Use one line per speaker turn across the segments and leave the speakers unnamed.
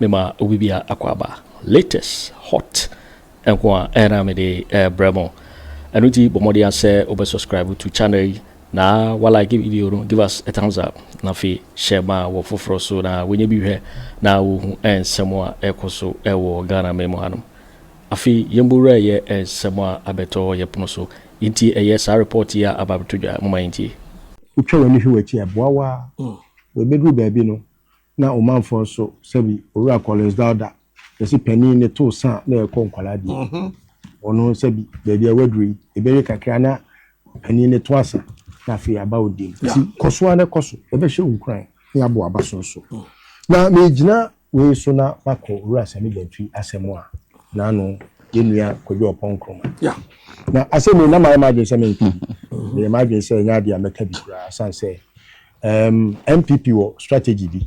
Mema obi biara akwaaba, latest, hot, nko a ɛna mede rebrɛ mo. Ɛno nti bɔ mmɔden ara sɛ wobɛ subscribe to channel yi na wa like video no, give us a thumbs up, na afei share ma wɔ foforɔ so na wɔnyɛ bi hwɛ na wɔhu nsɛm a ɛkɔ so wɔ Ghana man mu hanom. Afei yɛn bɔ wura yɛ nsɛm a abɛtɔ yɛ pono so nti ɛyɛ saa report yi a aba abɛtɔ dwa, momma yɛntie. Wotwa w'ani hwɛ
w'akyi a, ɛboa wo ara. Wɔ ɛbɛduru baabi no, Na Omanfoɔ nso, sɛbi, Owura Collins Dauda, yɛse panin no too sa a na yɛkɔ nkwadaa deɛ. Ɔno, sɛbi, baabi a waduru yi, ɛbɛwie kakra na panin no toa sa na afei yɛaba wo deɛ mu. Nti kɔ so ara na kɔ so, yɛbɛhyɛ wo nkuran na yɛabɔ w'abaso nso. Na megyina wei so na makɔ Owura Sammy Gyantwi asɛm a n'ano yɛn nua Kwadwo Ɔpɔn Nkrumah. Na asɛm wei na mayɛ m'adwene sɛ menka. Meyɛ m'adwene sɛ ɛnyɛ adeɛ a mɛka bi koraa, ɛsiane sɛ Ehm NPP wɔ strategy bi,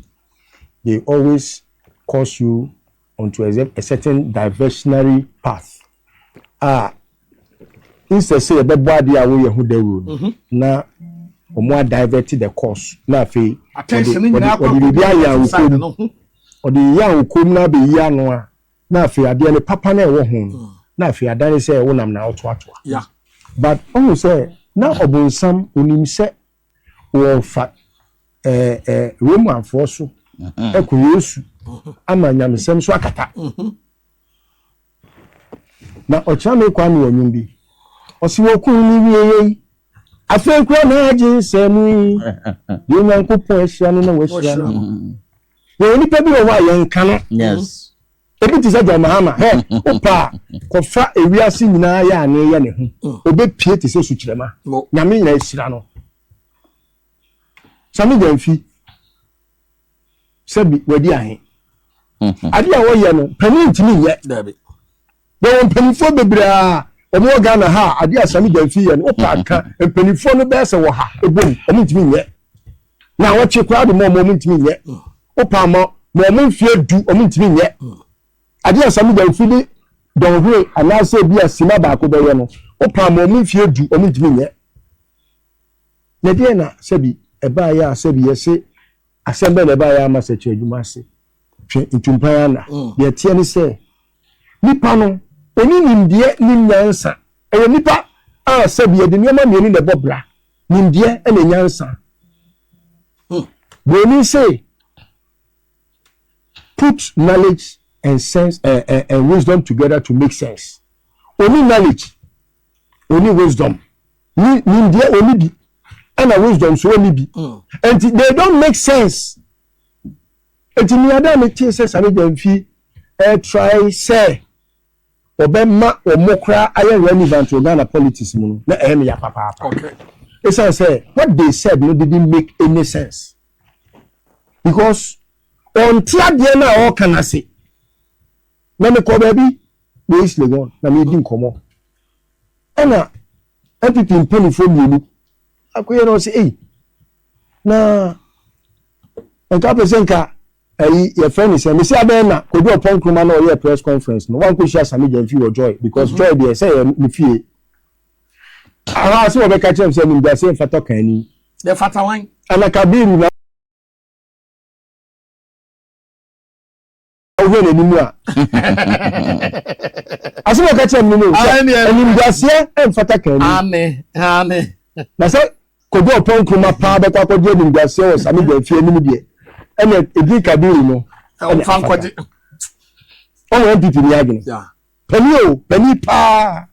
they always course you onto a certain diversionary path a instead sɛ yɛbɛbɔ adeɛ a woyɛ ho dawuro no, na wɔn a divert the course na afei wɔde biribi ayɛ a wokom wɔde yɛ a wokom na abɛyi ano a na afei adeɛ no papa na ɛwɔ ho no na afei adane sɛ wonam na wotoatoa but ɔhu sɛ na ɔbonsam onim sɛ wɔfa ɛɛ ɛɛ Romanfoɔ so ɛkɔ Yesu ama nyamesɛm so akata. Na ɔkyerɛ me kwan wɔ nnwom bi. Ɔsi wɔkun ne wie yei. Afei kura na agye nsɛm yi. Deɛ Nyankopɔn ahyira no na wahyira no. Wɔn nipa bi wɔ hɔ a yɛnka no. Yes. Obi te sɛ John Mahama, hɛ, wopɛ a, kɔfa ewiase nyinaa yɛ anee yɛ ne ho. Mm. Obepie te sɛ sukyerɛma. Nyame nyina ahyira no. Sami Gyamfi, sɛbi wadi ahe. Mm-hmm. Ade a wɔyɛ no, panin ntumi nyɛ. Yɛwɔ mpanimfoɔ bebree a wɔn wɔ Ghana ha a ade a Sami Gyamfi yɛ no, wopɛ aka mpanimfoɔ no bɛyɛ sɛ wɔ ha, ebom, wɔn ntumi nyɛ. na wɔkye koraa de ma wɔn wɔn ntumi nyɛ wopa ma ma wɔn mfeɛ du wɔn ntumi nyɛ adeɛ a sami dɛnfi de dɔnhwere anaasɛ ebi a sima baako bɛyɛ no wopa ma wɔn mfeɛ du wɔn ntumi nyɛ na deɛ na sɛbi ɛbaayɛ a sɛbi yɛse asɛm bɛn na ɛbaayɛ ama sɛ kyerɛ adwuma ase twɛ ntumpan ana mm. deɛ teɛ ne sɛ nipa no oni nimdeɛ ne nyansa ɛyɛ nipa a sɛbi yɛde nneɛma mmienu na ɛbɔ bra. Nimdeɛ ne nyansa. Hmm. Buroni se, put knowledge and sense uh, uh, and wisdom together to make sense. Oni knowledge, oni wisdom, ni nimdeɛ oni bi, ɛna wisdom so oni bi. Hmm. Nti mm. they don't make sense. Nti mi ada mi ti sɛ sani jɛ nfi ɛ try sɛ. wɔbɛma wɔn koraa ayɛ relevant wɔ Ghana politics mu no, na ɛyɛ me ya papaapa. Ɛsiane sɛ what they said no didn't make any sense because ɔnte adeɛ no a ɔreka no ase. Na mekɔ baabi wɔ East Legon na meredi nkɔmmɔ. Ɛna NPP mpanimfoɔ mmienu akɔyɛ na ɔsɛ ei na nka pɛ sɛ nka Ɛyi yɛfrɛ no sɛn? Mese abɛyɛ na Kwadu Ɔpɔn Nkrumah na ɔyɛɛ press conference no wankɔ hyia Sammy Gyamfi wɔ Joy because Joy deɛ sɛ ɛyɛ ne fie ahaa sɛ wɔbɛka akyerɛ no sɛ animguaseɛ mfata ɔkanni. Ɛfata wan? Ana Kabiru na wohwɛ n'anim a asɛm a ɔka kyerɛ me no sɛ Aane, ɛno no. animguaseɛ mfata kanni. Aane, aane. Na sɛ Kojo ɔpɔn nkruma paa bɛkɔ akɔgye animguaseɛ wɔ Sami Gyan fie anim deɛ ɛna ɛdin Kadiri no ɛne afata. Ɔwɔ NPP ni adwene. Pani o, pani paa.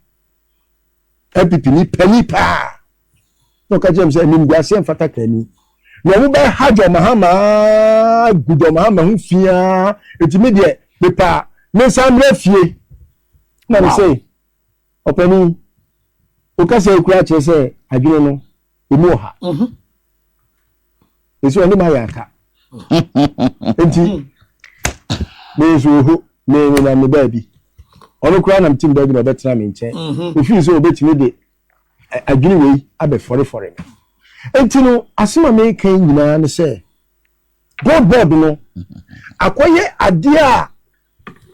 NPP ni pani paa. Na ɔka kyerɛ m sɛ animguaseɛ mfata kani. Na ɔmo bɛ ha John Mahama gu John Mahama ho fiaa. Eti me deɛ mepaa mensan mmra fie. Na me sɛ. Ɔpanin, wo kasa yi koraa kyerɛ sɛ adwene no emu wɔ ha. Mhm. Esi ɔne ma yɛ aka. Nti me nso oho me ne nam ne baabi. Ɔno koraa nam tim baabi na ɔbɛtena me nkyɛn. Mhm. Mefiri sɛ obetumi de ɛ- adwene wei abɛfɔrefɔre me. Nti no, asɛm a meka yi nyinaa ne sɛ, billboard no akɔyɛ adeɛ a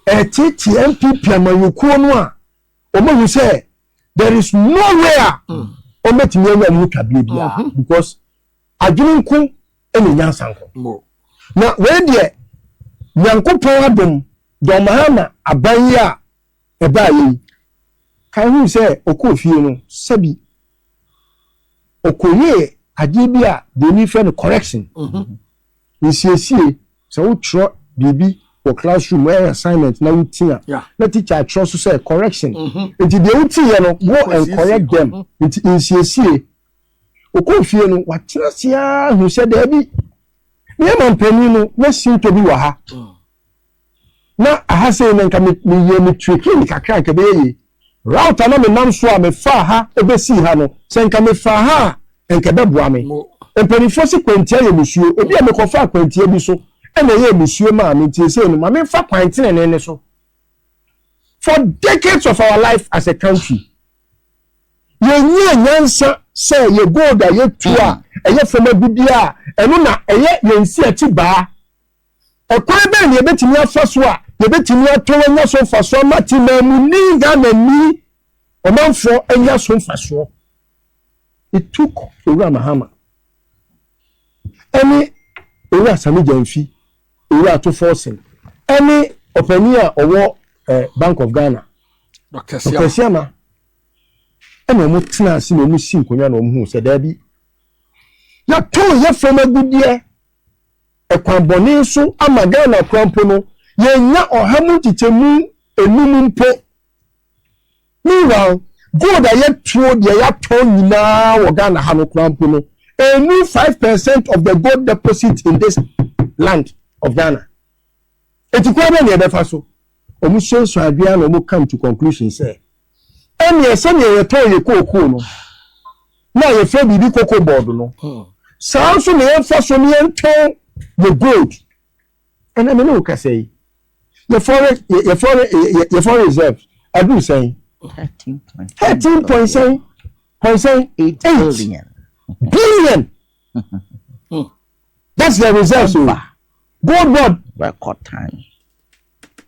ɛtetee NPP amanyɔkuo no a wɔahu sɛ there is no way a wɔbɛtumi anya wɔn ho twaberɛ biara because adwene nko ɛna nyansa nko na wei deɛ nyankopɔn adom John Mahama aban yi a ɛbaa yɛ yi kan hu sɛ ɔkɔɔ fie no sɛbi ɔkɔyɛɛ adeɛ bi a deɛ ni fɛ no correction Nsiesie, Sɛ wotwerɛ biribi wɔ classroom mu ɛyɛ assignment na woti a, na teacher atwerɛ so sɛ correction nti deɛ wotiiɛ no go and correct them nti nsiesie. Ɔkɔɔ fie no watena ase ara hu sɛ daabi, me yɛ mampanin no na sintɔ bi wɔ ha. na aha sei na nka meyɛɛ me trekking kakra a nka ɛbɛyɛ yie. Route a na menam so a mefaa ha bɛsii ha no, sɛ nka mefaa ha a nka ɛbɛboa me. Mpanimfoɔ se kwantia yɛ nisuo, ebia mekɔfaa kwantia bi so na ɛyɛɛ nisuo maa me nti seesei no ma memfa kwan tenenee no so. For decades of our life as a country, yɛnyaa nyansa sɛ yɛ gold a yɛtu a ɛyɛ fam agudeɛ a ɛno na ɛyɛ yɛn nsiakyibaa. Ɔkwan bɛn na yebetumi afa so a yebetumi atɔn anya so mfaso ama temamuni Ghanani ɔmanfo anya so mfaso? It took Owura Mahama ɛne Owura Sammy Gyamfi, Owura Ato Forson ɛne ɔpanyin a ɔwɔ eh, Bank of Ghana, Dr. Siama ɛna wɔn tena ase na wɔn si nkonnwa na wɔn hu sɛ daabi yɛtɔn yɛ fam agudeɛ kwan bɔne so ama Ghana koraa mpo no, yɛnnya ɔha mu nkyekyɛmu nnum mpo. Meanwhile, gold a yɛtoo deɛ yɛatɔn nyinaa wɔ Ghana ha no koraa mpo no, ɛnnu five percent of the gold deposit in this land of Ghana. Enti kwan bɛn na yɛbɛfa so? Wɔsuasua adwene ara na wɔcome to conclusion sɛ, Ɛneɛ sɛdeɛ yɛtɔn yɛn kookoo no na yɛfrɛ biribi cocoa board no, saa ara nso na yɛmfa so na yɛntɔn yɛn gold. Ɛnnɛ me ne wo kasa yi, yɛn foreign, yɛn foreign, yɛn foreign reserves aduru sɛn? Thirteen point sɛn? Point sɛn? Eight billion. That's the results o. Gold board. Record time.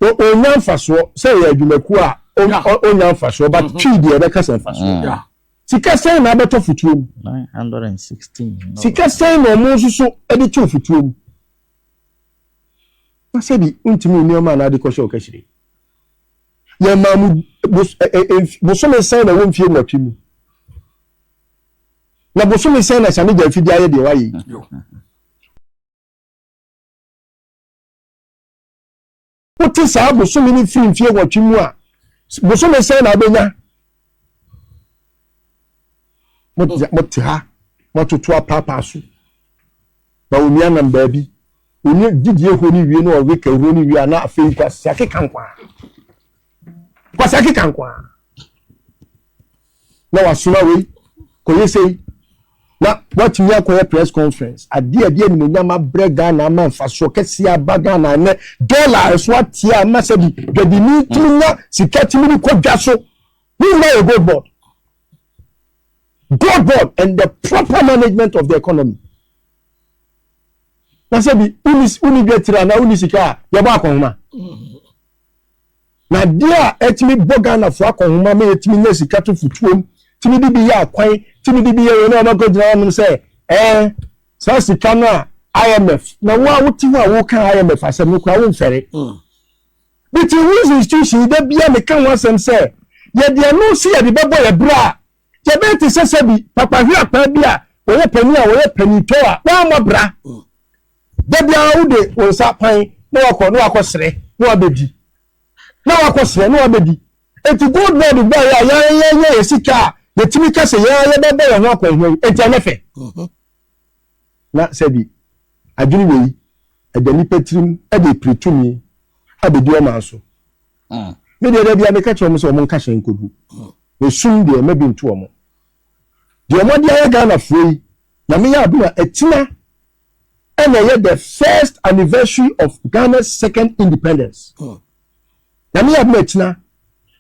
O o
nya nfasoɔ sɛ ɛyɛ adwumakuo a o o o nya nfasoɔ but mm-hmm. twi deɛ ɛbɛka sɛ nfasoɔ. Mm. Sika sɛn na abɛtɔ futuo mu? Nine hundred
and sixteen. Sika sɛn
na ɔmo nso so ɛde to futuo mu? Na sɛbi ntumi nneɛma a n'ade kɔhyɛ ɔkɛhyire. Yɛn maa mu bosome sɛn na ɛwɔ mfie nwɔtwe mu? Na bosome sɛn na asiane gya afidie ayɛ deɛ wayɛ yi? Wote saa bosome no firi mfie nwɔtwe mu a, bosome sɛn na wobɛnya? Mote ha, moatoto apaapaa so, na onua nam baabi. Ɔnye gyedie hɔ no wie na ɔwe kɛ hɔ no wie a na afei kwasiakeka nkoaa. Kwasiakeka nkoaa. Na wasoma wei kɔyɛ sei na watumi akɔyɛ press conference adeɛ a ɛde animonyam abrɛ Ghana ama mfasoɔ kɛseɛ aba Ghana ɛnɛ dɔla ɛso ateɛ a ama sɛbi dwadini tumi nya sika tumi ne kɔ dwa so ne nyinaa yɛ gold board gold board and the proper management of the economy. na sɛ bi wonni dwa tiri anaa wonni sika a yɛbɔ akɔnhoma na adeɛ a ɛtumi bɔ ghanafoɔ akɔnhoma ma yɛtumi nya sika to futuom tumi de bi yɛ akwan tumi de bi yɛ wei na ɔbɛkɔ gyina hɔnom sɛ ɛɛ saa sika no a imf na wo a wote hɔ a woka imf asɛm no koraa womfɛre mm. but whose institution da bia meka ho asɛm sɛ yɛde ɛno sɛ yɛde bɛbɔ yɛ berɛ a Yɛbɛyɛ te sɛ sɛbi papa hweapaa bi a wɔyɛ panin a wɔyɛ panintɔ a wammɔ bra. Da biara wode wo nsa pan na wakɔ na wakɔ serɛ na wabɛdi na wakɔ serɛ na wabɛdi eti gold board baa yɛ a yɛayɛ yɛ yɛ sika a yɛtumi ka sɛ yɛn a yɛbɛbɔ yɛn ho akwanhia yi enti ɛnyɛ fɛ mhm. na sɛbi adwene wei ɛda nipa tirim ɛde piri tumi abɛdi ɔman so Me deɛ dabi a meka kyerɛ wɔn sɛ wɔn nka hyɛn nkɔgu. Na sum deɛ mma bi nto wɔn. Deɛ wɔn ade ayɛ Ghana foɔ yi, Nyame yɛ adom a atina ɛna ɛyɛ the first anniversary of Ghana's second independence. Nyame yɛ adom a atina.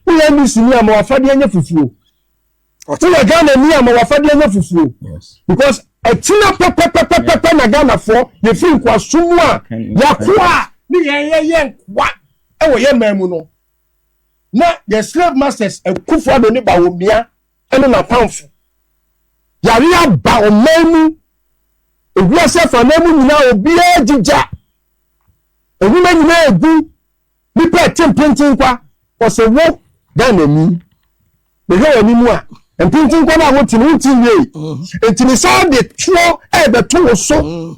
Wo yɛ NDC ni a ma wafadeɛ nyɛ fufuo. Woyɛ Ghana ni a ma w'afadeɛ nyɛ fufuo because ɛkyina pɛpɛpɛpɛpɛ na Ghanafoɔ yɛfiri nkoasom mu a yɛakoa a ne yɛyɛ yɛ nkoa wɔ yɛ man mu no na yɛ slave masters Akufo Addo ne Bawumia ne n'apamfo yare aba ɔman mu ewiase afanan mu nyinaa obiara gyigya nnwuma nyinaa egu Nipa ɛte mpenten kwa ɔsɛ wo Ghana ni mehwɛ wɔ anim a mpenten kwa no a wote no wonti nwie mm-hmm. nti ne saa de toɔ ɛbɛto wo so mm-hmm.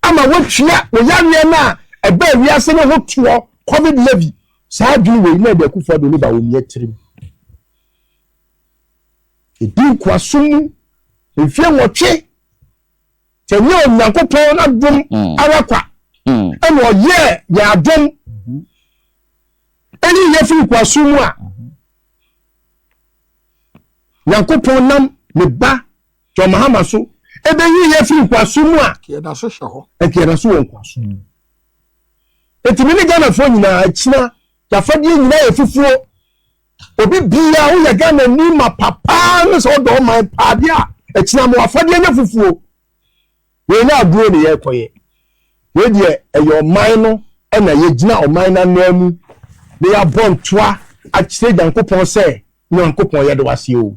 ama woatua wo yareɛ no a ɛbɛ wiase no ho toɔ covid levy saa adwene wei na ɛde akufoɔ de ne ba wɔ mmiɛ tirim ɛdi nkoaso mu mfie nwɔtwe Sɛ nyɛ Onyankopɔn n'adom mm. ara kwa mm. ɛna ɔyɛɛ yɛn adom mm-hmm. ɛyi yɛ firi kwaso mu a mm-hmm. Nyankopɔn nam ne ba John Mahama so ɛbɛyi yɛ firi kwaso mu a ɛkɛda so hyɛ hɔ
ɛkɛda so wɔ nkwaso
mm. ɛtumi ne Ghanafoɔ nyinaa akyina yɛafadeɛ nyinaa yɛ fufuo Obi biaa woyɛ Ghana ni ma papaa ne sɛ wodɔ ɔman paa deɛ a ɛkyena mo afadeɛ nyɛ fufuo wei na agorɔ ne yɛ kɔyɛ wei deɛ ɛyɛ ɔman no ɛna yɛ gyina ɔman no anaa mu ne yɛ abɔ ntoa akyerɛ Nyankopɔn sɛ Nyankopɔn yɛde waseɛ o.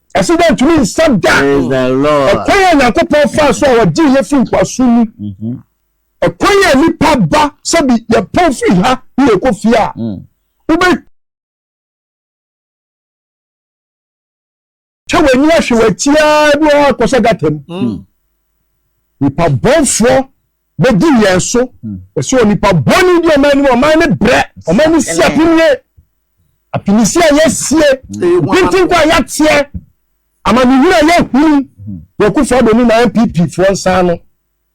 Ɛsɛ dɛ ntumi nsa da ɔkwan
a Nyankopɔn
faa so a ɔgyee yɛn fii nkoasom mu. Mm-hmm. Ɛkwan a nipa ba sɛbi yɛpɔn firi ha ne yɛkɔ fie a mm. wobɛ twɛ w'ani ahwɛ w'akyi ara bi wɔ hɔ akɔhyɛ gata mu. Mm. Nipa bɔnfoɔ bɛdi yɛn so ɛsɛ onipa bɔne di ɔman no mu ɔman no brɛ ɔman no si apinie apinisi a yɛasie nkontinko a yɛateɛ amanehunu a yɛahunu yɛkufo ado ne na npp foɔ nsa no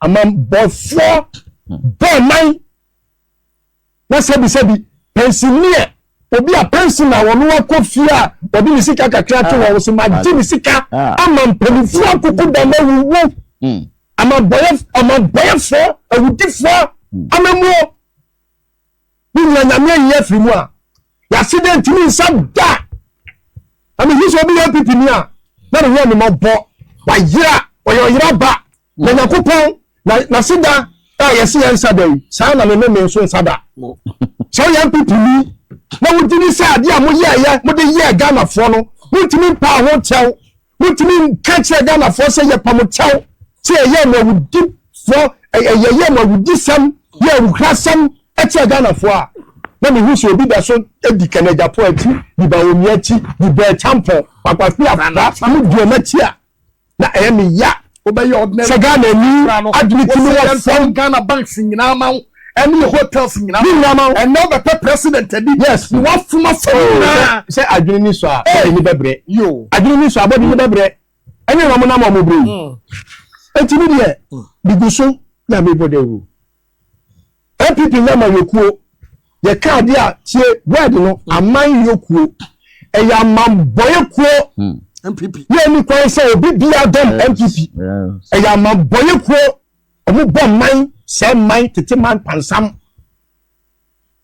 amambɔfoɔ bɔ ɔman Na sɛbisɛbi, pɛnsineɛ, obi a pɛnsin a ɔno akɔ fie a ɔde ne sika kakra ato wɔn so ma gye ne sika ama mpanimfoɔ akoko dam awuwu ama bɔyɛ ama bɔyɛfoɔ awudifoɔ amamuo ne nyina nyame ayi afiri mu a yɛase dɛ ntumi nsa da na mehu sɛ obi yɛ pipi ni a na ne ho amemɔbɔ wayera ɔyɛ ɔyera ba Na Nyankopɔn, na N'aseda a yɛse yɛn nsa da yi, saa na Ne nome nso nsa da. Sɛ woyɛ NPP ni na wogye di sɛ adeɛ a moyɛɛyɛ, mode yɛɛ Ghanafoɔ no, montumi mpaa ho kyɛw, montumi nka nkyerɛ Ghanafoɔ sɛ yɛpa mo kyɛw sɛ yɛyɛɛ mo awudifoɔ, yɛyɛɛ mo awudisɛm ne awukrasɛm kyerɛ Ghanafoɔ a, na mehu sɛ obi da so di Kenneth Gyapong akyi, di Bawumia akyi, di Bɛɛ Kyampɔn, Kwaku Afra, Kwame Duam akyi a. na ɛyɛ me ya wobɛyɛ ɔdena sɛ Ghana ni adwene ti no wɔ fam Ghana banks nyinaa
ma wo ɛne hotels nyinaa ne nyinaa ma wo ɛnna wobɛpɛ president adi yes ne wafoma
fam
oh, nyinaa sɛ adwene ni so a
bɔde ni bɛbrɛ yo adwene ni so a bɔde ni bɛbrɛ ɛne na ɔmo nam ɔmo brɛ yi mm. eti mi deɛ bigu mm. so na mi bɔ dawuro NPP nyɛ amanyɔkuo, yɛka adeɛ a tie word no hmm. amanyɔkuo, ɛyɛ amambɔyɛkuo. NPP. Hmm.
Yɛ ni kwan sɛ
obi bi adɔm NPP, ɛyɛ amambɔyɛkuo, ɔmo bɔ man sɛ man tete man pansam.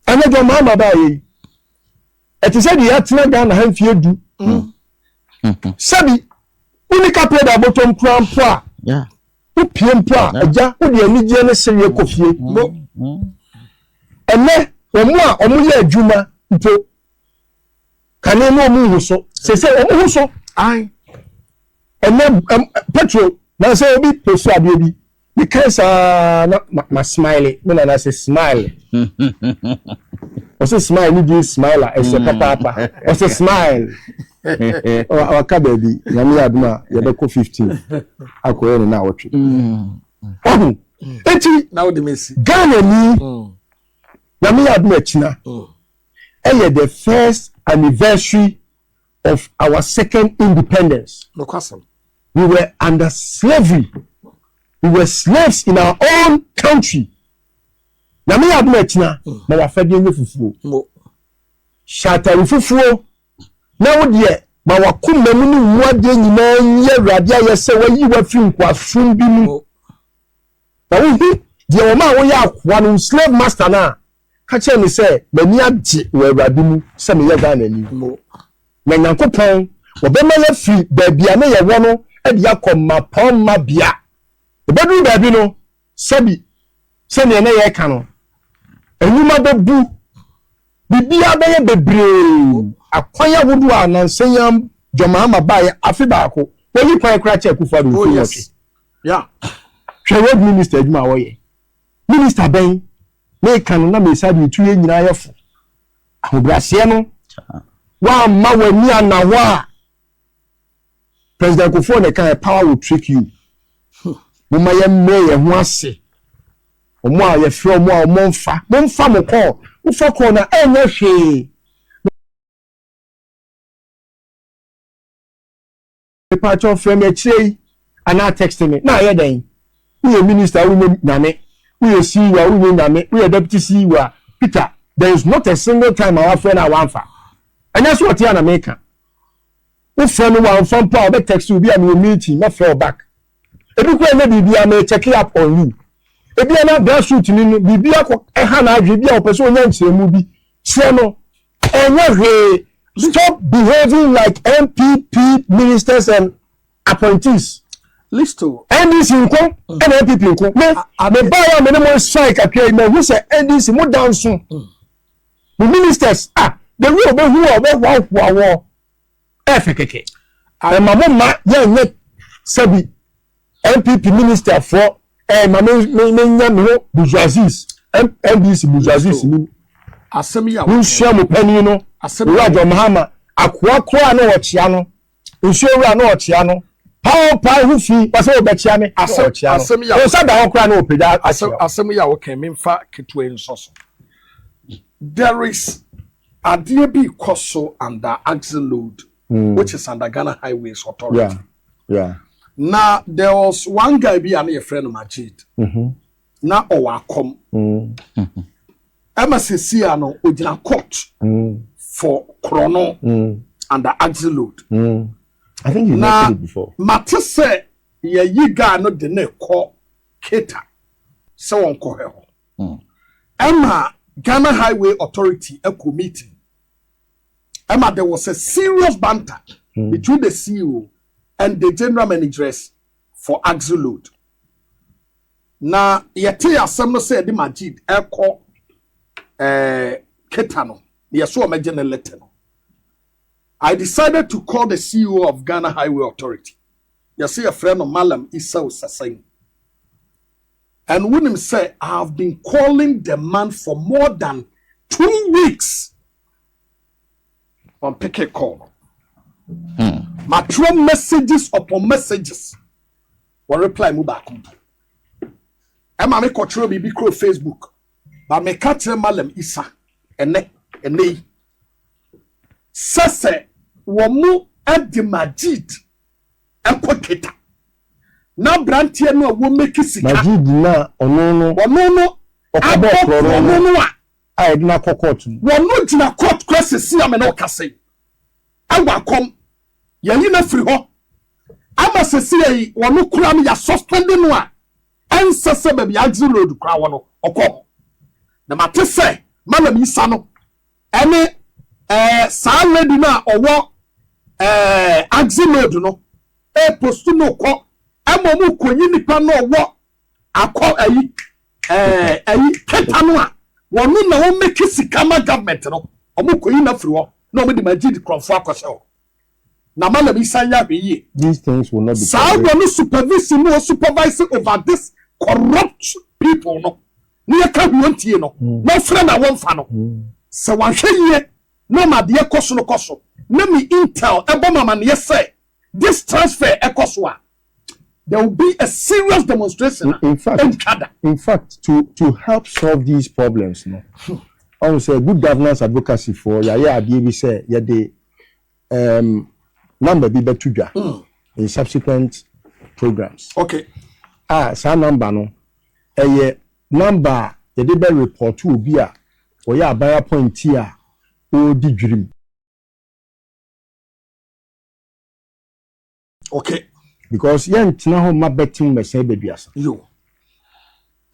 Ɛnɛ dɔn maa ma baa yɛ yi, ɛte sɛ deɛ yɛatena Ghana ha mfie du. Hmm. Sɛbi, wuni kapɛ da bɔtɔm kura mpo a. Wopue mpo a, agya, wode anigyeɛ ne sereɛ kɔ fie. Ɛnɛ, wɔn a wɔyɛ adwuma mpo, kane na wɔn ho so. Sese wɔn ho so.
Ɛnɛ,
petrol, na sɛ obi poso adeɛ bi, mekae saa na ma smile, me nana sɛ smile. Ɔsɛ smile ne din smile a, ɛsɛ papaapa. Ɔsɛ smile. waka baabi nyame yɛ adom a yɛbɛkɔ 15 akɔyɛ ne na awɔtwe ɔho enti ghana
ni
nyame yɛ adom akyina ɛyɛ the first anniversary of our second independence
we were
under slavery we were slaves in our own country nyame yɛ adom akyina ma wafɛdeɛ nyɛ fufuo hyɛ atare fufuo Na wo deɛ, ma w'akoma mu ne wo mu adeɛ nyinaa nyi Awurade ayɛ sɛ wayi wo afiri nkoasom bi mu. Na wohu deɛ wɔmaa woyɛ akoa no, wo slave master no a, ka kyerɛ no sɛ, M'ani agye wɔ Awurade mu sɛ meyɛ Ghanani. Na Nyankopɔn, wɔbɛma yɛafiri baabi a na yɛwɔ no de akɔ mmapɔmma bea. Ɛbɛduru baabi no, Sɛbi, sɛnea na yɛreka no, nnwuma bɛbu, biribiara bɛyɛ bebree, akwan ahodoɔ a nansa yi ara John Mahama baeɛ afe baako, wɔyi kwan koraa kyɛ Akufo Addo mfe
nwɔtwe. Hwɛ road
minister adwuma a wɔyɛ. Minister bɛn? Meka no na mesa deɛ ɛtu yɛn nyinaa yɛ fo. Ahobrɛaseɛ no, woamma w'ani anna hɔ a, President Kufuor na ɛkaeɛ, power will trick you. Momma yɛmmrɛ yɛn ho ase. Wɔn a yɛfrɛ wɔn a wɔn mfa, momfa mo call. Wofa call no a, ɛnyɛ hwee. Mepakyɛw frɛ me akyire yi anaa text me na ayɛ dɛn? Woyɛ minister a wonyɛ nyame, woyɛ CEO a wonyɛ nyame, woyɛ deputy CEO a Peter, there is not a single time a wafrɛ no a wamfa. Ɛnyɛ sɛ ɔte a na meka. Wo frɛ no wamfa mpo a ɔbɛ text wo ebia mewɔ meeting mɛ frɛ wo back ebi koraa nyɛ biribiaa mɛ checke up on you ebia na bra suit ni no biribi akɔ ɛha na adwene ebia ɔpɛ sɛ ɔnya nkyerɛmu bi kyerɛ no ɛnyɛ hwee stop behaving like NPP ministers and appointees listo
NDC nko
ɛna NPP nko me me baa yɛ a me ne mo strike atwa yi mɛ hu sɛ NDC mo danso mo ministers ah the way ɔbɛ hu a ɔbɛ hoahoa wɔ ɛyɛ fɛ kɛkɛ. Ae ma mo mma yɛnyɛ sɛbi NPP minister foɔ ɛɛ ma me me me nya me ho bourgeoisies NDC bourgeoisies ni
mo nsua mo panin no
owura John Mahama akoa koraa na ɔkyea no nsuo wura na ɔkyea no paao paa ho fi ɔsɛ ɔbɛkyea me na ɔkyea no ɔsa
da hɔ koraa na
ɔpagya akyea asɛm yi a wɔkɛn
me nfa ketewa yi nsɔ so there is Adeɛ bi rekɔ so under Axle Load which is under Ghana Highways Authority.
Na
there was one guy bi a na yɛfrɛ no Majid. Na ɔwɔ akɔm. Ɛma sɛsi a no ɔgyina court for korɔno under Axle Load.
Na mate sɛ
yɛyi guy no de no rekɔ Keta sɛ wɔnkɔhwɛ hɔ. Ɛma Ghana Highway Authority ɛkɔ meeting. Ɛma there was a serious banter between the CEO and the general managers for Axle Load. Na yɛtee asɛm no sɛ yɛde Majid ɛkɔ eh, Keta no, na yɛsɛ wɔmɛgye ne letter no. I decided to call the CEO of Ghana Highway Authority. Yɛsɛ yɛfrɛ no Malam Isao Sasayi. And wonim sɛ I have been calling the man for more than two weeks. Wan peke call no. Hmm. Matwerɛ messages upon messages. Wɔ reply mu baako mpo. Ɛma me kɔtwerɛ biribi kuro Facebook. Ba meka kyerɛ Malam Isa ɛnɛ ɛnɛ yi. Sɛ sɛ wɔn de Majid ɛkɔ Keta. Na abranteɛ no a wo make sika. Majid na ɔno
no. Ɔno no abɔ korɔno
no a. A yɛde no akɔ
court mu. Wɔno gyina court
kora sɛsi a me ne wo kasa yi. Ɛwɔ akɔm. Yɛyi no afiri hɔ. Ama sɛsi a yi wɔno kora no yɛ suspend no a ɛnsɛ sɛ baabi a agye load kora wɔ no ɔkɔ hɔ. Na mate sɛ Mallam Isa no Ɛne ɛɛ saa lady no a ɔwɔ ɛɛ axi load no ɛɛpost no kɔ ɛma ɔmo konyi nipa no ɔwɔ akɔ ɛyi ɛɛ ɛyi keta no a wɔno na ɔmɛki sika ma government no ɔmo koyi no afiri hɔ na ɔmo de majid korɔnfo akɔhyɛ hɔ na ama Lemi san yɛ ahwɛ yie. These things will not be
tolerated. Saa wɔ ne supervision
mu ɔ supervise over this corrupt people no na yɛ ka hwee ɔntie no na ɔfrɛ no a wɔnfa no sɛ wanhwɛ yie na ɔma adeɛ kɔ so no kɔ so na me intel ɛbɔ me amaneɛ sɛ this transfer ɛkɔ so a there will be a serious demonstration in, in fact ntwada
in fact to to help solve these problems no ɔn hmm. sɛ good governance advocacy for yɛayɛ adeɛ bi sɛ yɛde um, number bi bɛto dwa hmm. in subsequent programs okay
a saa
number no ɛyɛ number a yɛde bɛ report obi a ɔyɛ aban appointee a ɔredi dwirim
Okay. Because yɛntena
hɔ mma bɛtem mmɛsɛe Baduasa. Yo.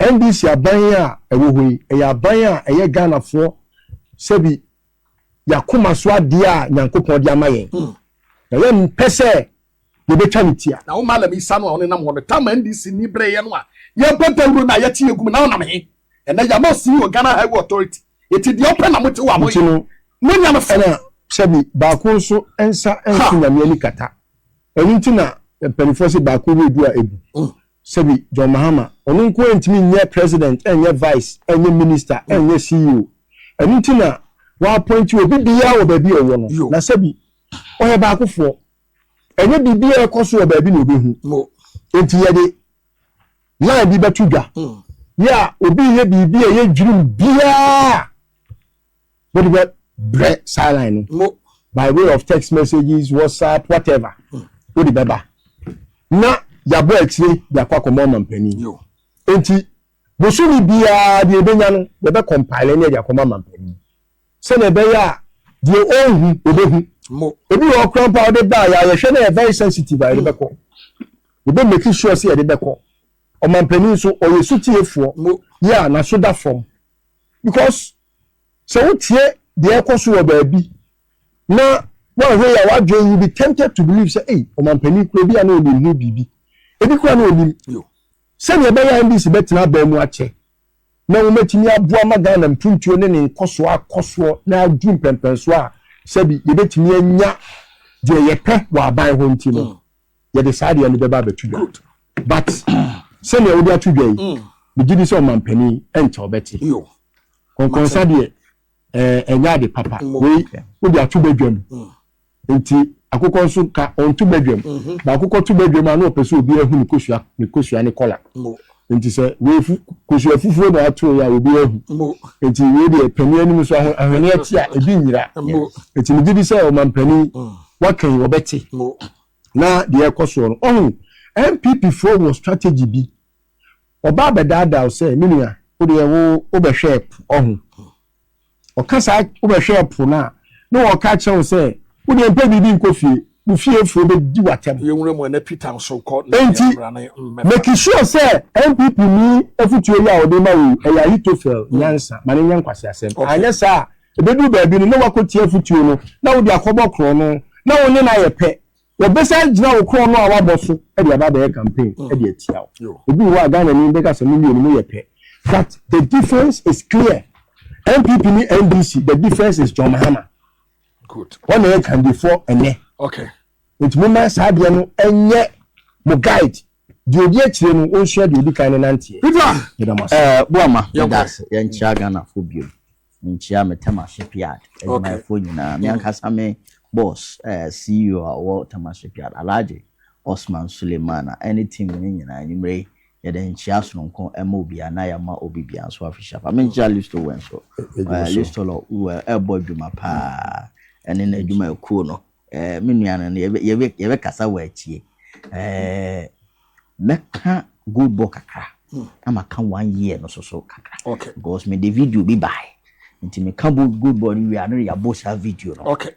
NDC aban yi a ɛwɔ hɔ yi, ɛyɛ aban a ɛyɛ Ghanafoɔ sɛbi yɛakoma so adeɛ a Nyankopɔn de ama yɛn. Hmm. Na yɛmpɛ sɛ yɛbɛtwa ne tia. Na wo Malam Isa no a
ɔne nam hɔ no, tam NDC ni berɛ yɛ no a, yɛbɔ dawuro no a yɛte yɛgum na ɔnam he? Ɛnɛ yɛama CEO Ghana Highway Authority. Enti deɛ ɔpɛ na mote wɔ ahoyɛ. Enti no, monya no fɛ. Ɛna sɛbi baako
nso nsa nso Nyame ani kata. Ɛno nti na mpaninfoɔ se baako ho edu a egu. Sɛbi John Mahama, ɔno nko ara ntumi nyɛ President, ɛnyɛ Vice, ɛnyɛ Minister, ɛnyɛ CEO. Ɛno nti na w'appointi obi biara wɔ baabi a ɔwɔ no. Na sɛbi ɔyɛ baakofoɔ. Ɛnyɛ biribi a ɛkɔ so wɔ baabi na obehu. Enti yɛde line bi bɛto dwa hmm. yɛ a obi yɛ biribi a ɛyɛ dwirim biara wode bɛ brɛ saa line no by way of text messages whatsapp whatever hmm. wode bɛba na yɛabɔ akyire de akɔ akɔma ɔma mpanin nti bosome biara deɛ ɛbɛnya no yɛbɛ compile ne ɛde akɔma ma mpanin sɛnea ɛbɛyɛ a deɛ ɔnhu ɔbɛhu ebi wɔ hɔ koraa mpo a wɔde baa yɛ a yɛhwɛ na yɛ very sensitive a yɛde bɛkɔ yɛbɛ make sure sɛ yɛde bɛkɔ ɔmampanin nso ɔyɛ sutiefoɔ yɛ a n'aso da fam because sɛ wotie deɛ ɛkɔ so wɔ baabi na woanhwɛ yɛ a w'adwene you be tempted to believe sɛ ei ɔmampanin kura ebi a na onim ho biribi ebi kura na onim sɛnea ɛbɛyɛ a ndc bɛtena abaa mu akyɛ na wɔatumi aboa ma Ghana mpuntuo ne ne nkɔsoɔ akɔ soɔ na aduru mpɛnpɛnsoɔ a sɛbi yɛbɛtumi anya deɛ yɛpɛ wɔ aban ho nti no, yɛde saa adeɛ no bɛba abɛto dwa. But sɛdeɛ wode ato dwa yi, megye di sɛ ɔmampanin nkyɛ ɔbɛte. Kɔnkɔnsa deɛ. Ɛɛ, ɛnyɛ ade papa. Wei, wode ato badwam. Enti akokɔ nso ka ɔnto badwam. Na akokɔ to badwam a, na ɔpɛ sɛ obiara hu ne kosua, ne kosua ne kɔla. Enti sɛ wei fu, kosua fufuo na ato yɛ a, obiara hu. Enti wei deɛ, panin anim nso ahweneɛ te a, ebi nyera. Enti megye di sɛ ɔmampanin, wakan, ɔbɛte. Na deɛ ɛrekɔ soɔ no, ɔhu, NPPfoɔ wɔ strategy bi Ɔbaa bɛdaadaa wo sɛ, Me nua, wo deɛ wo wobɛhwɛɛ po ɔho. Ɔka saa wobɛhwɛɛ po no a, na ɔreka akyerɛ wo sɛ, Wo deɛ mpɛ biribi nkɔ fie, wo fiefoɔ bɛdi wo atɛm.
Enti, make
sure sɛ NPP ni afotuo yi a ɔde rema wo yi, ɛyɛ Ahitofel nyansa, ma no nyɛ nkwaseasɛm. Anyɛ saa a, ɛbɛduru baabi no, na woakɔtie afotuo no, na wode akɔbɔ korɔno, na wo ne no ayɛ pɛ. Wɔbɛsan agyina wo korɔn no a woabɔ so de aba abɛyɛ campaign de atia wo. Obi wɔ hɔ a Ghanani bɛka sɛ mo mmienu mo yɛ pɛ but the difference is clear. NPP ne NDC the difference is John Mahama. Good.
Wɔn na yɛ kandifoɔ
ɛnɛ. Okay.
Nti mo mma
saa adeɛ no ɛnyɛ mo guide. Deɛ odi akyire no ɔnsua deɛ odi kan no nanteɛ. Peter Meda mo ase. Eh
Boama meda ase yɛnkyia Ghanafoɔ biom menkyia me Tema shipyard adwumayɛfoɔ nyinaa me ankasa me boss eh CEO a ɔwɔ Tema shipyard Alhaji Osman Sulemana ɛne team no nyinaa anwummerɛ yi yɛde nkyia sononko ɛma obiara na yɛama obi biara nso afi shapa menkyia Listo wɔ nso eh Listo lɔ wɔ ɛbɔ adwuma paa ɛne n'adwumayɛkuo no Eh, me nua no, yɛbɛ yɛbɛ yɛbɛkasa wɔ akyie. Eh, mɛka goal ball kakra. Hmm. Na maka one year no so so kakra. Okay. Because me de
video bi
bae. Nti meka goal ball no wie a, na yɛabɔ saa video no. Okay.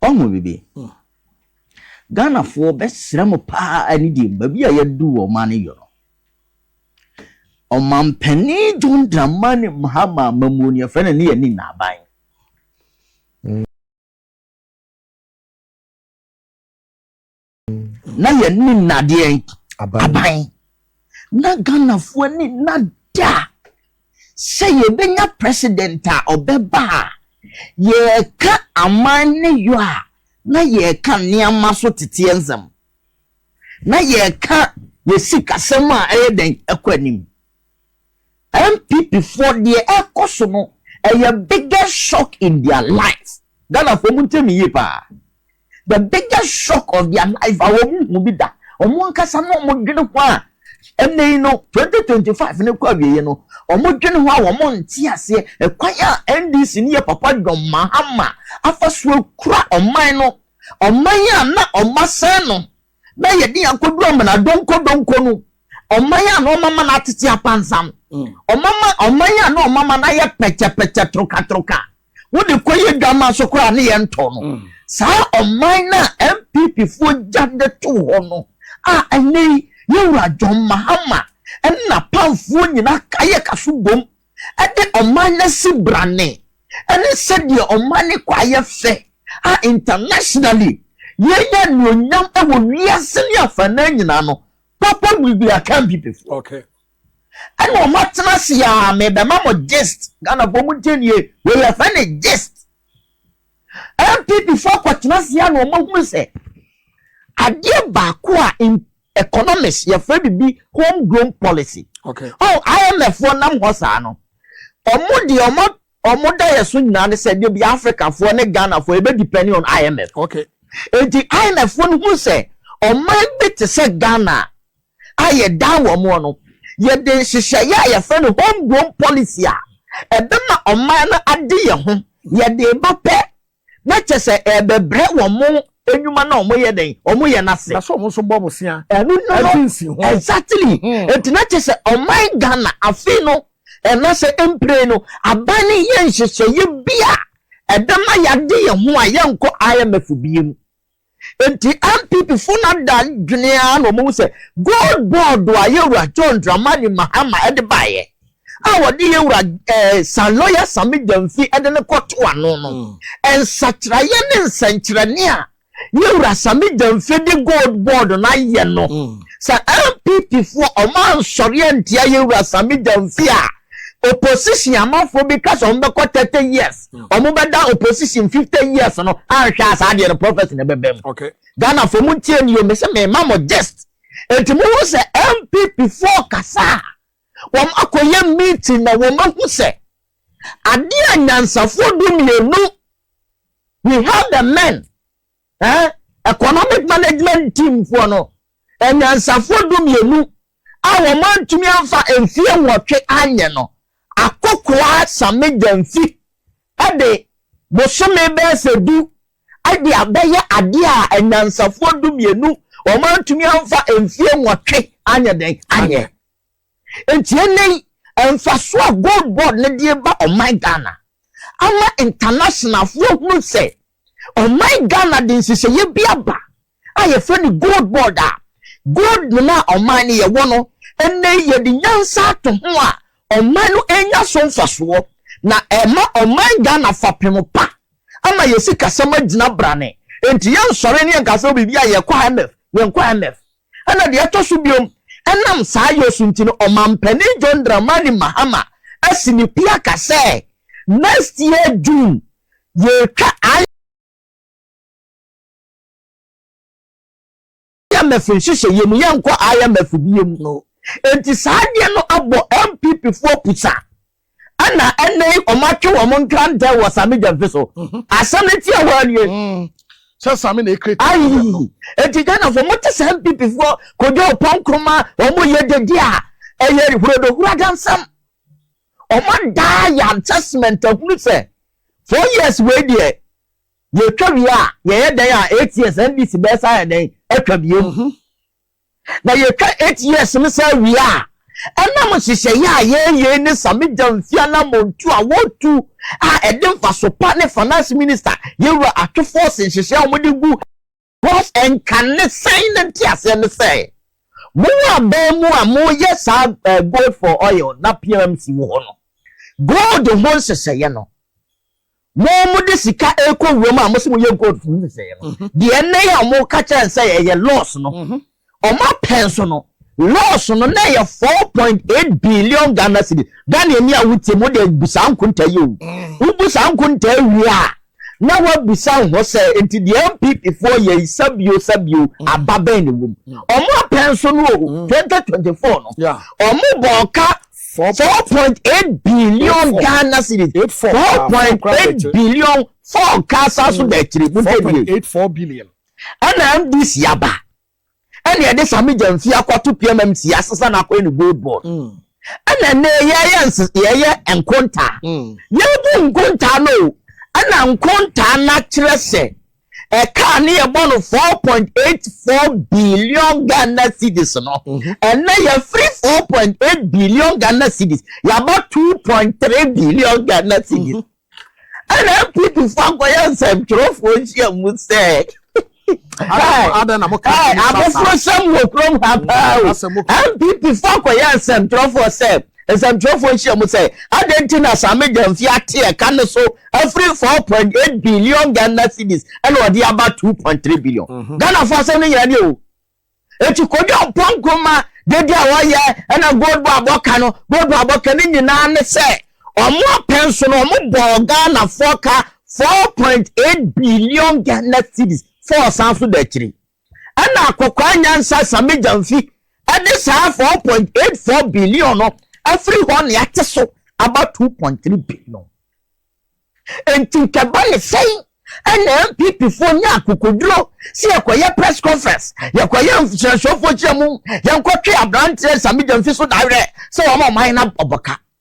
Ɔho
bibi. Hmm. ghanafoɔ bɛsrɛ mo paa ani deɛ baabi a yɛadu wɔ ɔma no yɔ no ɔmampani john dramani mahama mamuo ne yɛfrɛ no ne yɛne naaban na yɛn ni nnadeɛ aban na ghanafoɔ ani nna da sɛ yɛbɛnya president a ɔbɛba a yɛreka aman ne yɔ a na yɛreka nneɛma so teteɛ nsɛm na yɛreka yɛsikasɛm a ɛyɛ dɛn ɛkɔ anim NPP foɔ deɛ ɛkɔ so no ɛyɛ biggest shock in their life Ghana foɔ montie me yie paa the biggest shock of their life a wɔn hu bi da wɔn ankasa na wɔn dwene ho a ɛnna yi no 2025 no kɔ awieɛ no wɔn dwene ho a wɔn nte aseɛ ɛkwan a NDC ne yɛ papa John Mahama afa so akura ɔman no ɔman a na wɔn asɛn no na yɛde yɛn akɔduru amena donko donko no ɔman a na ɔmama no atete apansam ɔmama ɔman a na ɔmama no ayɛ pɛkyɛpɛkyɛ torokatoroka wode kɔyɛ dwama so koraa ne yɛntɔ no mm. saa ɔman no a npp foɔ gya de to hɔ no a ɛnɛ yi yɛwura john mahama ɛna pamfoɔ nyinaa kayɛ kaso bom de ɔman no asi brane ne sɛdeɛ ɔman no kɔ ayɛ fɛ a internationally yɛnya anuonyam wɔ wiase ne afanan nyinaa no papa will be akampipifoɔ okay.
ɛna
ɔma tena ase a mebɛma mo gist ghanafoɔ mu ntie nie wei yɛfɛ ne gist mpp foɔ akɔtena ase a na ɔma hunu sɛ adeɛ baako a Economists yɛfrɛ biribi home grown policy. Okay. Oh,
IMF foɔ
nam hɔ saa no. Ɔmo deɛ ɔmo ɔmo da yɛ so nyinaa ne sɛ debi Africa foɔ ne Ghana foɔ ebe depending on IMF. Okay. Eti IMF foɔ no hu sɛ ɔman bi te sɛ Ghana a yɛ dan wɔn mo no yɛde nhyehyɛeɛ a yɛfrɛ no home grown policy a ɛbɛma ɔman no ade yɛ ho yɛde ba pɛ Na kyɛ sɛ ɛrebɛbrɛ wɔn nnwuma no a wɔyɛ dɛn? Wɔyɛ no ase. Na sɛ wɔn nso bɔ bosea
Ɛno no no, de nsi ho.
exactly. Mhm. Enti na kyɛ sɛ ɔman Ghana afei no, anaasɛ mprɛn no, aban no nyɛ nhyehyɛeɛ bi a ɛbɛma yɛade yɛn ho a yɛnkɔ IMF biem. Enti NPP fo no ada adwene ara na wɔahu sɛ gold board a Yewura John Dramani Mahama de baeɛ a wɔde Yewura eh, San Lawyer Sami Gyamfi de no kɔto ano no, mm. nsakyeraeɛ ne nsɛnkyerɛnne a Yewura Sami Gyamfi de gold board no ayɛ no, mm. sɛ NPP foɔ ɔma nsɔre antia Yewura Sami Gyamfi a, opposition amanfoɔ bi ka sɛ wɔbɛkɔ 30 years. ɔmo bɛda opposition fifty years no anhwɛ a saa deɛ no prophecy na ɛbɛbɛ mu okay ghana fo
mo ntie
ni o mese mema mo gist enti mo ho sɛ npp foɔ kasa a wɔn akɔyɛ meeting na wɔn ahu sɛ adeɛ a nyansafoɔ du mmienu we have the men Eh, economic management team foɔ no, anyansafoɔ du mmienu a wɔn antumi amfa mfeɛ nwɔtwe anyɛ no, akokoaa Same Gyamfi de bosome bɛyɛ sɛ du de abɛyɛ adeɛ a anyansafoɔ du mmienu wɔn antumi amfa mfeɛ nwɔtwe anyɛ dɛn anyɛ. Enti ɛnnɛ yi, mfaso a Gold Board no de reba ɔman Ghana ama ntanasenafoɔ ahunu sɛ ɔman Ghana de nhyehyɛeɛ bi aba a yɛfrɛ no Gold Board a gold no a ɔman no yɛwɔ no, ɛnnɛ yi yɛde nyansa ato ho a ɔman no renya so mfasoɔ na ɛma ɔman Ghana fapem pa ama yɛn sikasɛm agyina brane. Enti yɛnsɔre ne yɛnka sɛ biribi a yɛkɔ IMF, yɛnkɔ IMF. Ɛna deɛ ɛtɔ so biom, ɛnam saa yɔ so nti no, Ɔmanpanin John Dramani Mahama asi ne pi aka sɛ, Next year June, yɛretwa I. IMF nhyehyɛeɛ mu, yɛrenkɔ IMF biom no. Enti saa adeɛ no abɔ NPP foɔ pusa. Ɛna ɛnɛ yi wɔn atwe wɔn nkrantɛ wɔ Sami Gyamfi so. Mhm. Asɛm no ti ɛhɔ nie. Mm. Sɛ Sami na
ekire ta. Ayi eti
Ghana fo mo te sɛ NPP foɔ kojú ɔpɔn nkroma wɔn yɛ dede a ɛyɛ hurodohura dansɛm. Wɔn adaa yɛ assessment ahunu sɛ four years wei deɛ yɛtwa wie a yɛyɛ dɛn a eight years NDC bɛsa yɛ dɛn atwa biem. Mhm. Na yɛtwa eight years no saa wie a, ɛnam nhyehyɛeɛ a yɛreyɛ yi ne Same Gyamfi anammɔntuo a wɔretu a ɛde mfaso pa ne Finance Minister Yewura Atwe Force nhyehyɛeɛ a wɔde gu Force nka ne sɛn no nteaseɛ ne sɛ, mo a bɛn mu a moyɛ saa Gold for Oil na PMC wɔ hɔ no, gold ho nhyehyɛeɛ no, Mo mo de sika ɛkɔ wuram a mo se mo yɛ gold funu ne sɛɛ no mhm. deɛ ɛnɛ yɛ a mo ka kyɛn sɛ ɛyɛ loss no mhm. ɔmo apɛn so no loss no na ɛyɛ four point eight billion Ghana cedi Ghana ni a wotie mo de bu saa nkonta yi o mm. wobu saa nkonta wie a na wabisa ho sɛ nti deɛ npp foɔ yɛ sabio sabio mm. aba bɛn ne wom mm. ɔmo apɛn so no o mm. twenty twenty four no ɔmo bɔ
ɔka
4.8 billion Ghana cedis. 4.8 billion four kasa so da akyiri mu ntɛ bie. 4.84 billion.
Ɛna MDC
aba. Ɛna ɛde Sami Gyamfi akɔto PMMC asesa n'akɔyɛ ne gold board. Mm. Ɛna ɛnɛ yɛyɛ nse yɛyɛ nkontaa. Mm. Yɛbu nkontaa no o. Ɛna nkontaa no akyerɛ sɛ ɛkaa ne yɛbɔ no four point eight four billion ghana cedis no mhm. ɛnna yɛfiri four point eight billion ghana cedis yaba two point three billion ghana cedis mhm. ɛnna npp fo akɔyɛ nsɛntwerɛfoɔ nhyia mu sɛ
abofra sɛm
wɔ kurom ha paa o npp fo akɔyɛ nsɛntwerɛfoɔ sɛ nsɛntwerɛfoɔ nhyia mu sɛ adɛn nti na saa megyamfi ate ɛka no so afiri four point eight billion ghana cedis ɛna ɔde aba two point three billion mhm. ghana fo asɛm no nyinaa ni o eti kojú ɔpɔ nkoma dede a wɔyɛ ɛna gold bar abɔka no gold bar abɔka ne nyinaa ne sɛ wɔn apɛn so no wɔn bɔɔ ghana fo ka four point eight billion ghana cedis fo ɔsan so da akyiri. Ɛnna akokoaa nyansa Sammy Gyamfi de saa four point eight four billion no afiri hɔ ne ate so aba two point three billion. Enti nkɛba ne sɛn ɛna NPP foɔ nya akokoduro sɛ yɛkɔyɛ press conference, yɛkɔyɛ nhyɛnsofoɔ kyerɛ mu, yɛnkɔtwe aberanteɛ Sammy Gyamfi so dawerɛ sɛ wɔn ɔman no abɔka.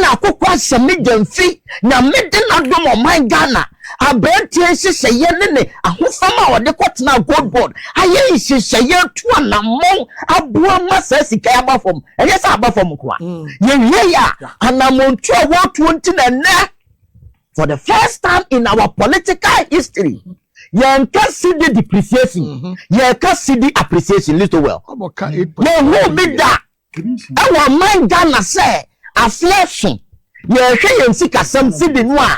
na
akokoasɛm
no gya mfi Nyame de n'adom ɔman Ghana aberanteɛ nhyehyɛeɛ ne ne ahofama a ɔde kɔtenaa Goldboard ayɛ nhyehyɛeɛ atu anammɔn aboa ma saa sika yi aba fam. Ɛnyɛ sɛ aba fam nko a, mm. yɛwie yɛ a anammontuo a wɔtuo nti na nnɛ for the first time in our political history yɛnka cedi depreciation mm-hmm. yɛka cedi appreciation little well yɛhu
bi
da ɛwɔ ɔman Ghana sɛ afe aso yɛhwɛ yɛn sikasɛm sidi no a,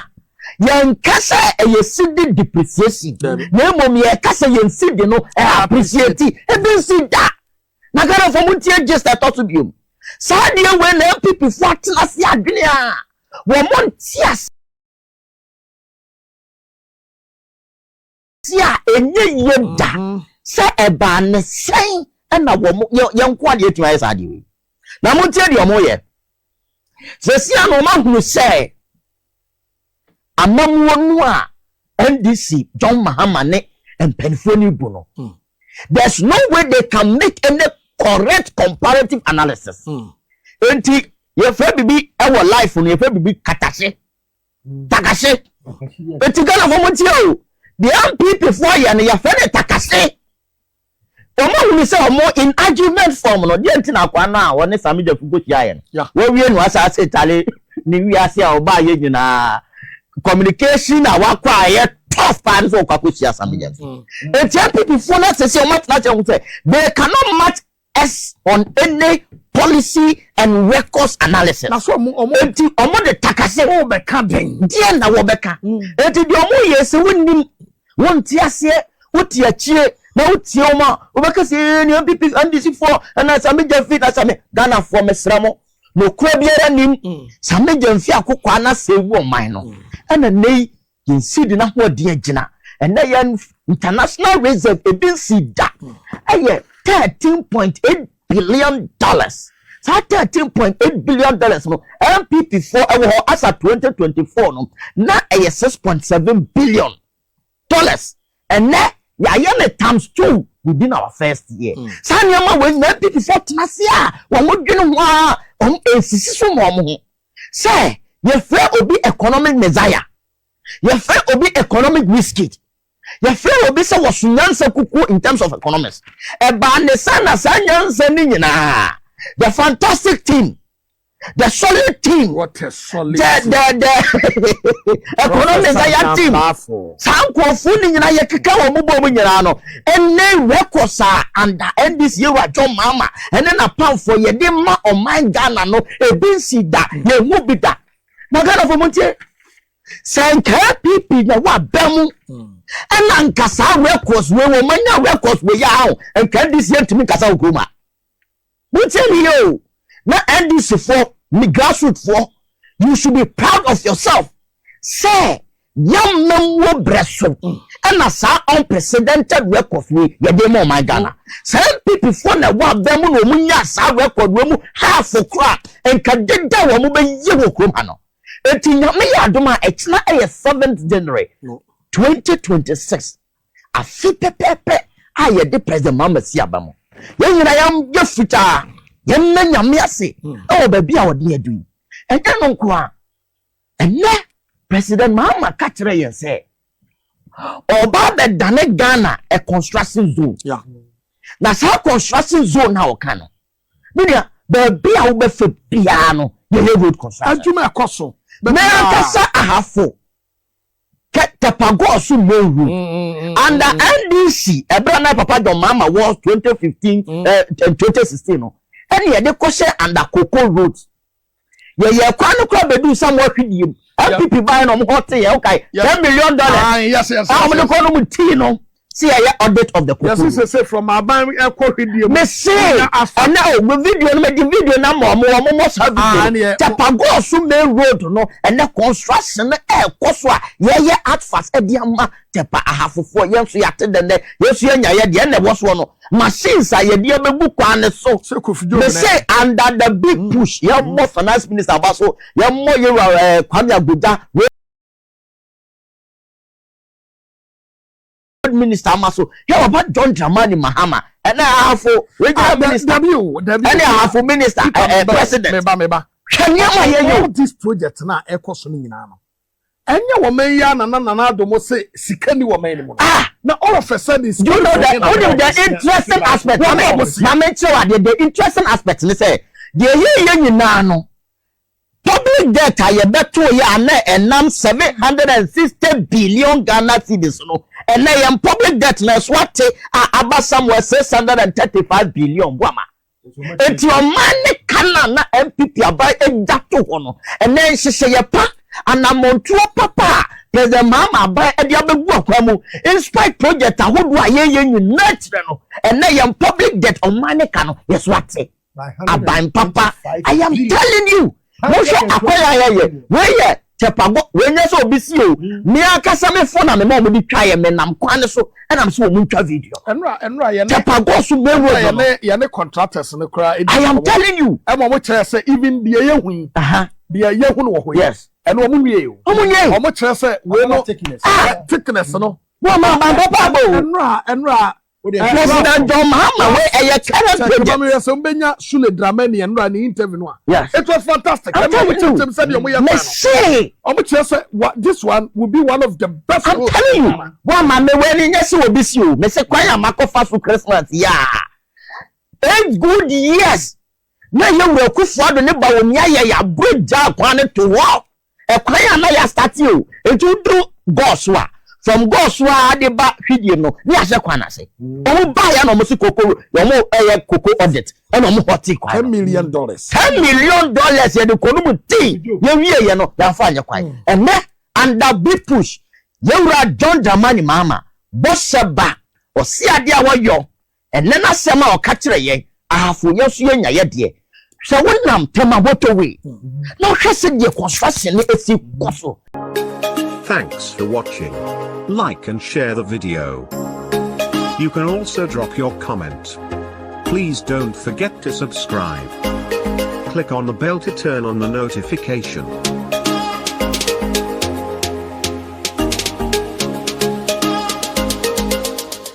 yɛnka sɛ ɛyɛ sidi depreciation na mmom yɛka sɛ yɛn sidi no ɛappreciate ebi nsi da na Ghanafoɔ mu ntie gist ɛtɔ so biom saa deɛ wei na NPP foɔ atena se adwene a wɔn nte ase Tia a ɛnyɛ yie da sɛ ɛbaa ne sɛn ɛna wɔn yɛn nko adeɛ atumi ayɛ saa adeɛ wei na mo tie deɛ wɔn yɛ sɛsi a na wɔn ahunu sɛ amamuo no a NDC John Mahama ne mpanimfoɔ no bu no hmm. there's no way they can make any correct comparative analysis hmm. nti yɛfrɛ bibi ɛwɔ life no yɛfrɛ bibi katase. takahye eti ghana fo mo tie o deɛ npp fo ayɛ no yɛfrɛ no takahye wɔn ahunu sɛ wɔn in argument form no deɛ nti na akwa no a wɔne sami jafu ko hyia yɛ no wɔwie no asaase tale ne wiase a ɔbaa yɛ nyinaa communication a wakɔ a yɛ tough paa no sɛ ɔkɔ akɔhyia sami jafu eti npp fo no asese wɔn atena sɛ wɔn sɛ they cannot match S on any policy and records analysis. Na so ɔmo ɔmo. Eti
ɔmo de takase.
Ɔmo bɛka dɛn.
Deɛ na wɔbɛka.
Eti deɛ ɔmo yɛ sɛ wɔnnim, wɔnte aseɛ, wɔte akyire na wotie wɔn a wɔbɛka sɛ ee nea npp ndc foɔ ɛna sami gyɛnfi na sami ghana foɔ mesrɛ mo na okura biara nim sami gyɛnfi akokoa na sɛ ewu ɔman no ɛna nɛyi Yɛn seed n'ahoɔden agyina. Ɛnnɛ yɛn international reserve ebi nsi da. Ɛyɛ thirteen point eight billion dollars. Saa thirteen point eight billion dollars no NPP foɔ ɛwɔ hɔ asa twenty twenty four no na ɛyɛ six point seven billion dollars. Ɛnnɛ yɛayɛ ne times two within our first year. Hmm. Saa nneɛma wɔ nyinaa NPP foɔ tena ase a wɔn dwene ho a wɔn nsisi so ma wɔn ho. Sɛ yɛfrɛ obi economic messiah, yɛfrɛ obi economic wizkid, yɛfrɛ obi sɛ wɔso nyansa kukuo in terms of economics. Ɛbaa ne saa na saa nyansa no nyinaa, the fantastic team, the solid team, What a solid the, team.
the, the
economic messiah team, saa nkurɔfoɔ no nyinaa yɛkeka wɔn bobɔ mu nyinaa no, Ɛnɛ records a under NDC Yewura John Mahama ne n'apamfoɔ yɛde ma ɔman Ghana no, ebi nsii da, yɛnhu bi da. Na Ghanafoɔ montie, sɛ anka APP na ɛwɔ aba mu, ɛna anka saa records wei wɔmanya records wei a, anka NDC ntumi nkasa wɔ kurom ha. Wotie me yie o, na NDC foɔ, me grassroot foɔ, you should be proud of yourself sɛ y'ammamuo brɛ so ɛna saa unprecedented records wei yɛde ma ɔman Ghana. Sɛ NPP foɔ na ɛwɔ abɛn mu na wɔn nyaa saa record wei mu half kora nka deda wɔn bɛyɛ wɔ kurom ha no. Eti nyame yɛ adom a ɛkyena ɛyɛ seventh January 2026. Afe pɛpɛɛpɛ a yɛde President Mahama si aba mu. Yɛn nyinaa yɛayɛ fitaa. Yɛmmɛ Nyame ase wɔ baabi a ɔde yɛn adu yi. Ɛnyɛ ɛno nko ara, ɛnnɛ President Mahama ka kyerɛɛ yɛn sɛ ɔba abɛdane Ghana a construction zone. Yeah. Na saa construction zone na ɔka no, me nua, baabi a wobɛfa biara no, yɛyɛ road construction. Adwuma ɛkɔ so.
Mɛ ankasa
ahafo. Kɛ tɛpa gɔɔ so mmɔ nhu. Anda NDC ɛberɛ a na Papa John Mahama wɔ 2015 and 2016 no, ɛne yɛde kɔhyɛ Anda Koko Road. Yɛyɛɛ kwan no koraa bɛduu Samoa Hwidie mu. NPP baeɛ na wɔn hɔ tee yɛn, wokae? Ten million dollars a
wɔde kɔ nom
tii no. Si yɛ yɛ audit of the koko. Yɛsi sese from aban
ɛkɔ hwidie mu. Mesi
ɛnɛ o mo video no mɛdi video na mɔ mo wɔn mɔ saa video. Tapagɔɔ so main road no ɛnɛ construction no ɛɛkɔ so a yɛyɛ advert ɛde ama tɛpa ahafofoɔ yɛn nso yɛate dɛ nɛ yɛn nso yɛnya yɛ deɛ ɛnɛ ɛwɔ soɔ no machines a yɛde ɛbɛgu kwan ne so. Mesi under the big mm. push yɛn mɔ finance minister aba so yɛn mɔ yɛn wura ɛɛ Kwame Agbodza. third minister ama so hwɛ papa john dramani mahama ɛna ahafo regional ah, minister ɛne ahafo minister ɛɛ president hwɛ
nneɛma yɛ yɛ all this project na ɛkɔ so no nyinaa no ɛnyɛ wɔn mɛn yi anana nana adomo se sika ni wɔn mɛn ni mu no ah! na all of a sudden sika ni wɔn mɛn na wɔn mɛn
the interesting aspect maame maame nkyɛn wa deɛ the interesting aspect ni sɛ deɛ yɛ yɛ nyinaa no Public debt a yɛbɛtoeɛ a na ɛnam Ghana cedis seven hundred and sixty billion so no, ɛnnɛ yɛn public debt no ɛso ate a aba somewhere six six hundred and thirty five billion boama. Enti ɔman ne ka no a na NPP aban agya to hɔ no, ɛnnɛ nhyehyɛeɛ pa, anammɔntuo papa a President Mahama aban de abɛgu akwan mu, inspite project ahodoɔ a yɛyɛ nyinaa kyerɛ no, ɛnnɛ yɛn public debt ɔman ne ka no yɛso ate. aban papa i am telling you mohwɛ akɔyɛ ayɛ yɛ wei yɛ tɛpago wei nyɛ sɛ obi si o me ankasa me fo na me ma wɔn de twa yɛ me nam kwan no so ɛnam so wɔn ntwa video tɛpago
so main road
no yɛ ne contractors
no koraa i am telling you
ɛma wɔn kyerɛ sɛ
even deɛ yɛ hu yi deɛ yɛ hu no wɔ hɔ yi ɛna wɔn nwie
o wɔn
nwie wɔn kyerɛ sɛ wei no thickness no wɔn ma aban papa
abo ɛnura ɛnura.
President
John Mahama wey ɛyɛ current project. Sɛ meyɛ sɛ mbɛnya Sule
Dramani ɛno a ne interview no a. Yes. It was fantastic. I'm telling you. Ɛmu sɛ deɛ
ɔmo yɛ fan. Mese. Ɔmo kyerɛ sɛ wa this one will be
one of the best. I'm telling you.
Wa ma me wɛ ni nyɛ sɛ obi si o. Mese kwan a makɔ fa so Christmas yaa. Eight good years. Na yɛ wura kufuado ne ba omi ayɛ yɛ aburo gya kwan ne to hɔ. Ɛkwan a na yɛ astate o enti wo duru gɔɔ so a from gɔɔ so a de ba hwidiem no ne ahyɛ kwan no ase ɔmo baa yɛ na ɔmo se koko ɔmo ɛyɛ koko audit ɛna ɔmo hɔte kwan no ten million dollars ten
million
dollars yɛ de kɔ no mu tee yɛ wie yɛ no yɛ afa nyɛ kwan mm. ɛnɛ under big push yɛ wura John Dramani Mahama bɔ hyɛ ba ɔsi adeɛ a wɔyɔ Ɛnnɛ n'asɛm a ɔka kyerɛ yɛn, Ahafo yɛn nso yɛnya yɛ deɛ. Hwɛ wo nam Tema motorway na hwɛ sɛdeɛ construction no asi kɔ so.
Thanks for watching. Like and share the video. You can also drop your comment. Please don't forget to subscribe. Click on the bell to turn on the notification.